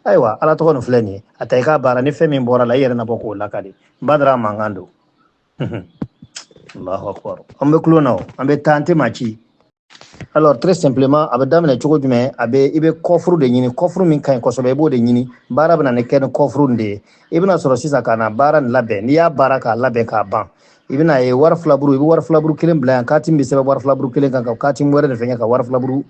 ayiwa ala tɔgɔ nin filɛ nin ye a ta i k'a baara ni fɛn min bɔra a la i yɛrɛ na bɔ k'o lakali badara mankan don allahu akbar an bɛ kulon na o an bɛ taa an tɛ maa ci alors très simplement a bɛ daminɛ cogo jumɛn a bɛ i bɛ kɔfuru de ɲini kɔfuru min ka ɲi kosɛbɛ i b'o de ɲini baara bɛna na kɛ ni kɔfuru de ye i bɛna sɔrɔ sisan ka na baara nin labɛn n'i y'a baara k'a labɛn k'a ban i bɛna ye wari filaburu i bɛ wari filaburu kelen bila yan kati bɛ sɛbɛn wari filaburu kelen kan ka kati wɛrɛ de fɛnkɛ ka wari filaburu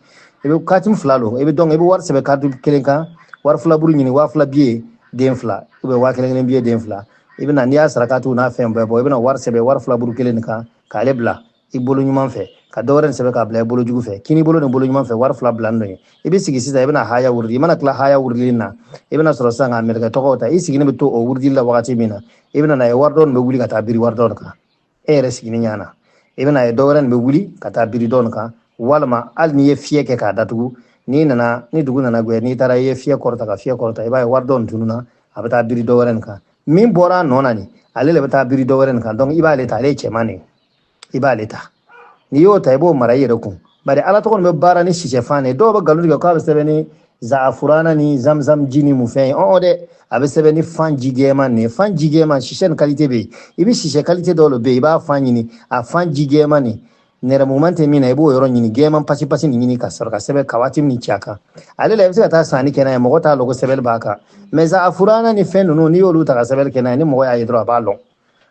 i bɛ kati fila don i bɛ dɔn i bɛ wari sɛbɛn kati kelen kan wari filaburu ɲini waa fila biye den fila u bɛ waa kelen kelen biye den fila i bɛna n'i y'a sarakati n'a fɛn bɛɛ bɔ i bɛna wari sɛbɛn wari filaburu kelen nin kan k'ale bila i bolo ɲuman fɛ ka dɔwɛrɛ nin sɛbɛn k'a bila i bolo jugu fɛ kini bolo nin bolo ɲuman fɛ wari fila bila nɔ ye i bɛ sigi sisan i bɛna haya wurudi i mana tila haya wurudili na i bɛna sɔrɔ sisan k'a mɛlɛkɛ tɔgɔw ta i sigilen bɛ to o wurudili la wagati min na i bɛna na ye wari dɔ nin bɛ wuli ka taa biri wari dɔ nin kan e yɛrɛ sigilen ɲɛ na i bɛna ye dɔ wɛrɛ nin bɛ wuli ka taa biri dɔ nin kan walima hali n'i ye fiyɛ kɛ k'a datugu n'i nana ni dugu nana gwɛ n'i taara i ye fiyɛ kɔrɔta ka fiyɛ kɔrɔta i b'a ye wari dɔ nin tununna a bɛ taa biri dɔ wɛrɛ nin kan min bɔra a nɔ na nin ale le bɛ taa biri dɔ wɛrɛ nin kan donc i b'ale ta ale ye cɛman de ye i b'ale ta n'i y'o ta i b'o mara i yɛrɛ kun bari ala tɔgɔ nin bɛ baara ni sisɛfan de dɔw bɛ galon tigɛ k'a bɛ sɛbɛn ni zaafurana ni zamzam ji ni mun fɛn ye ɔɔ dɛ a bɛ sɛbɛn ni fan ji gɛɛman nin ye fan ji gɛɛman sisɛ ni kalite bɛ yen i bɛ sisɛ kalite dɔw de bɛ yen i b'a fan ɲini a fan ji gɛɛman nin nɛrɛmuguman tɛ min na i b'o yɔrɔ ɲini gɛɛman pasi pasi nin ɲini ka sɔrɔ ka sɛbɛn ka kati nin ci a kan ale la i bɛ se ka taa sanni kɛ n'a ye mɔgɔ t'a lɔn ko sɛbɛnni b'a kan mais zaafurana ni fɛn ninnu n'i y'olu ta ka sɛbɛnni kɛ n'a ye ni mɔgɔ y'a ye dɔrɔn a b'a lɔn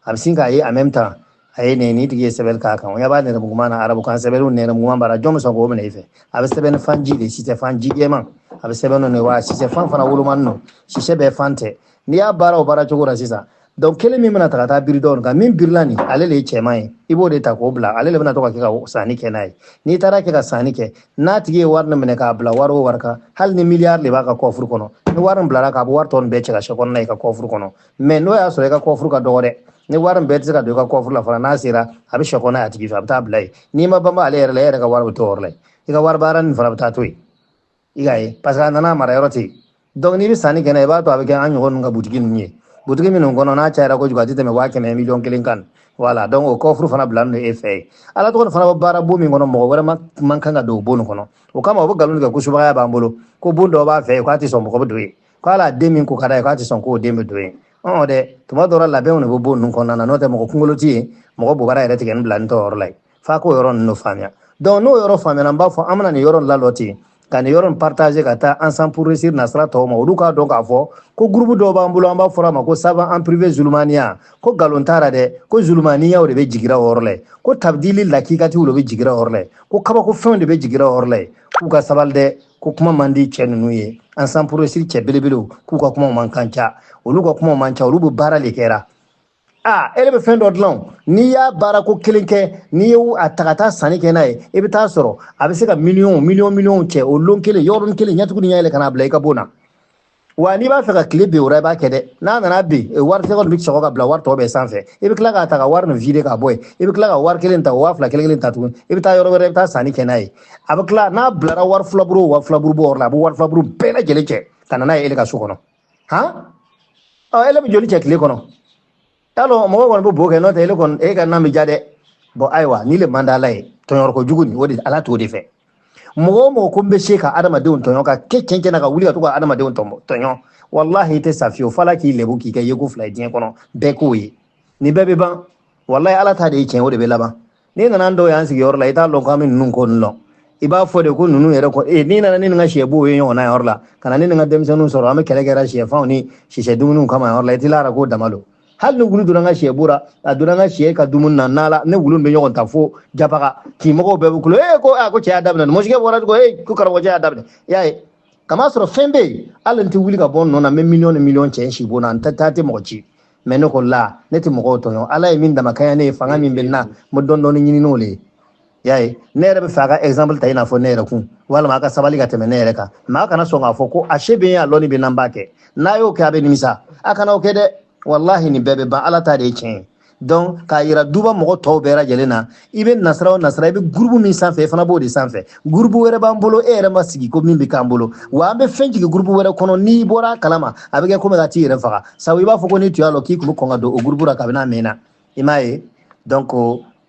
a bɛ sin k'a ye en même temps a ye nin nin tigi ye sɛbɛnni k'a kan o ɲɛ b'a nɛrɛmuguma na arabukan sɛbɛnniw nɛrɛmuguma b'a la jɔn bɛ sɔn k'o minɛ i fɛ a bɛ sɛbɛn ni fan ji de ye sisɛ fan ji jɛman a bɛ sɛbɛn n'o de ye wa sisɛ fan fana wolomanen don sisɛ bɛɛ fan tɛ n'i y'a baara o baara cogo la sisan donc kelen min bɛna ta ka taa biri dɔw kan min birila nin ale de ye cɛman ye i b'o de ta k'o bila ale de bɛna to ka kɛ ka sanni kɛ n'a ye n'i taara kɛ ka sanni kɛ n'a tigi ye wari nin minɛ k'a bila wari o wari kan hali ni miliyari de b'a ka kɔfuru kɔnɔ ni wari nin bilara a kan a bɛ wari tɔ nin bɛɛ cɛ ka sekɔ na n'a ye i ka kɔfuru kɔnɔ mais n'o y'a sɔrɔ i ka kɔfuru ka dɔgɔ dɛ ni wari bɛɛ tɛ se ka don i ka kɔfuru la fana n'a sera a bɛ sekɔ na a tigi fɛ a bɛ taa bila yen n'i ma banba ale yɛrɛ la e yɛrɛ ka wari bɛ to yɔrɔ la yen i ka wari baara nin fana bɛ taa to yen i ka ye parce que a nana mara yɔrɔ ten donc n'i bɛ sanni kɛ n'a ye i b'a to a bɛ kɛ an ɲɔgɔn ninnu ka butigi ninnu ye butigi minnu kɔnɔ n'a cayara kojugu a tɛ tɛmɛ waa kɛmɛ miliyɔn kelen kan wala donc o kɔfuru fana bilalen don e fɛ yen ala tɔgɔ fana bɛ baara bon min kɔnɔ mɔgɔ wɛrɛ ma man kan ka don o bon nin kɔnɔ o kama o bɛ nkalon tigɛ ko subagaya b'an bolo ko bon dɔ b'a fɛ yen k'a tɛ sɔn mɔgɔ bɛ don yen k'ale den min ko ka d'a ye k'a tɛ sɔn k'o den bɛ don yen ɔn dɛ tuma dɔw la labɛnw de bɛ bon ninnu kɔnɔna na n'o tɛ mɔgɔ kunkolo tɛ yen mɔgɔ bobara yɛrɛ tigɛnen bilanen t'o yɔrɔ la yen f'aw k'o yɔrɔ ninnu faamuya donc n'o yɔrɔ faamuyana n b'a fɔ an bɛna nin yɔrɔ lalɔ ten ka nin yɔrɔ in partager ka taa ensemble pour réussir nasira tɔw ma olu k'a dɔn k'a fɔ ko groupe dɔw b'an bolo an b'a fɔra a ma ko saban en privé zulumaniya ko nkalon t'a la dɛ ko zulumaniyaw de bɛ jigira o yɔrɔ la yen ko tabdili lakikatiw de bɛ jigira o yɔrɔ la yen ko kabako fɛnw de bɛ jigira o yɔrɔ la yen k'u ka sabali dɛ ko kuma man di cɛ ninnu ye ensemble pour réussir cɛ belebelew k'u ka kuma man kan ca olu ka kuma man ca olu bɛ baara le kɛra a ele bɛ fɛn dɔ dilan n'i y'a baara ko kelen kɛ n'i ye a ta ka taa sanni kɛ n'a ye i bɛ taa sɔrɔ a bɛ se ka miliyɔn miliyɔn miliyɔn cɛ o lon kelen yɔrɔnin kelen ɲɛtugu ni yɛlɛ ka n'a bila i ka bon na wa n'i b'a fɛ ka tile bin o i b'a kɛ dɛ n'a nana bin e wari tɛ bɛ sɔgɔ ka bila wari tɔ bɛɛ sanfɛ i bɛ tila k'a ta ka wari nin vide ka bɔ yen i bɛ tila ka wari kelen ta waa fila kelen kelen ta tuguni i bɛ taa yɔrɔ wɛrɛ i bɛ taa sanni kɛ n'a ye a bɛ tila n'a bilara wari filaburu wa filaburu bɔ yɔrɔ la a bɛ wari filaburu bɛɛ lajɛlen cɛ ka na n'a ye e ka so kɔnɔ han ɔ e bɛ joli cɛ tile kɔnɔ y'a dɔn mɔgɔ kɔni bɛ bo kɛ n'o tɛ e kɔni e ka nan bɛ ja dɛ bɔn ayiwa nin le man di ala ye tɔɲɔni ko jugu nin o de ala t'o de fɛ mɔgɔ o mɔgɔ ko n bɛ se ka adamadenw tɔɲɔ ka kɛ cɛn cɛn na ka wuli ka to ka adamadenw tɔɲɔ walahi i tɛ sa fiyewu f'ala k'i lebu k'i kɛ yeko fila ye diɲɛ kɔnɔ bɛɛ k'o ye nin bɛɛ bɛ ban walahi ala ta de ye tiɲɛ o de bɛ laban n'i nana dɔw y'an sigiyɔrɔ la i t'a dɔn k'an bɛ ninnu ko ninnu dɔn i b'a fɔ de ko ninnu yɛrɛ kɔ ee n'i nana ni nin ka sɛbo ye ɲɔgɔnna yɔrɔ la ka na ni nin ka denmisɛnninw sɔrɔ an bɛ kɛlɛ kɛra sɛfanw ni sisɛ dumuniw kama yɔrɔ la i t'i lara k'o dama don hali ni wulu donna n ka sɛ bon ra a donna n ka sɛ ka dumuni na n'a la ne ni wulu bɛ ɲɔgɔn ta fo japaga k'i mɔgɔw bɛɛ bɛ kulo ee ko a ko cɛ y'a daminɛ nin mɔsikɛ bɔra ko ee ko karamɔgɔcɛ y'a daminɛ i y'a ye kamasɔrɔ fɛn bɛ yen hali n tɛ wuli ka bɔ n nɔ na n bɛ miliyɔn ni miliyɔn cɛ n sibon na n tɛ taa n tɛ mɔgɔ ci mɛ ne ko la ne tɛ mɔgɔw tɔɲɔ ala ye min damakaya ne ye fanga min bɛ n na n bɛ dɔɔni dɔɔni ɲini n'o le ye y'a ye ne yɛrɛ b'a fɛ a ka exemple ta i n'a fɔ ne yɛrɛ kan walima a ka sabali ka tɛmɛ ne yɛrɛ kan mɛ a kana sɔn k'a fɔ ko a se bɛ n ye a lɔni bɛ n na n b'a kɛ n'a y'o kɛ a bɛ nimisa a kana o kɛ dɛ walahi nin bɛɛ bɛ ban ala ta de ye tiɲɛ ye donc k'a yira duba mɔgɔ tɔw bɛɛ lajɛlen na i bɛ nasira o nasira i bɛ gurubu min sanfɛ i fana b'o de sanfɛ gurubu wɛrɛ b'an bolo e yɛrɛ ma sigi ko min bɛ k'an bolo wa an bɛ fɛn jigin gurubu wɛrɛ kɔnɔ n'i bɔra a kalama a bɛ kɛ komi i ka t'i yɛrɛ faga sabu i b'a fɔ ko n'i tun y'a lɔn k'i tun bɛ kɔn ka don o gurubu la kabini a mɛnna i m'a ye donc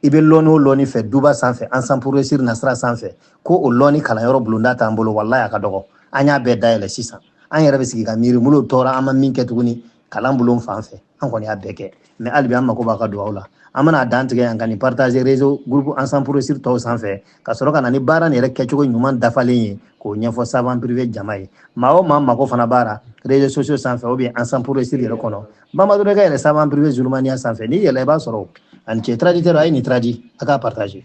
i bɛ lɔni o lɔni fɛ duba sanfɛ ensemble pour réussir nasira sanfɛ ko o lɔni kalanyɔrɔ bulonda t'an bolo walayi a ka dɔgɔ an y'a bɛɛ dayɛlɛ sisan an yɛrɛ bɛ sigi ka miiri mun lo tora an ma min kɛ tuguni kalan bulon fan fɛ an kɔni y'a bɛɛ kɛ mɛ halibi an mako b'a ka dugawu la an bɛna dan tigɛ yan ka nin partage réseau groupe ensemble pour réussir tɔw sanfɛ ka sɔrɔ ka na ni baara nin yɛrɛ kɛcogo ɲuman dafalen ye k'o ɲɛfɔ savant privé jama ye maa o maa mako fana b'a la réseau sociaux sanfɛ ou bien ensemble pour réussir yɛrɛ kɔnɔ bamadɔkɛ yɛrɛ savant privé zulumaniya sanfɛ n'i yɛlɛ i b'a sɔrɔ a ni ce traducteur a ye nin traduire k'a partage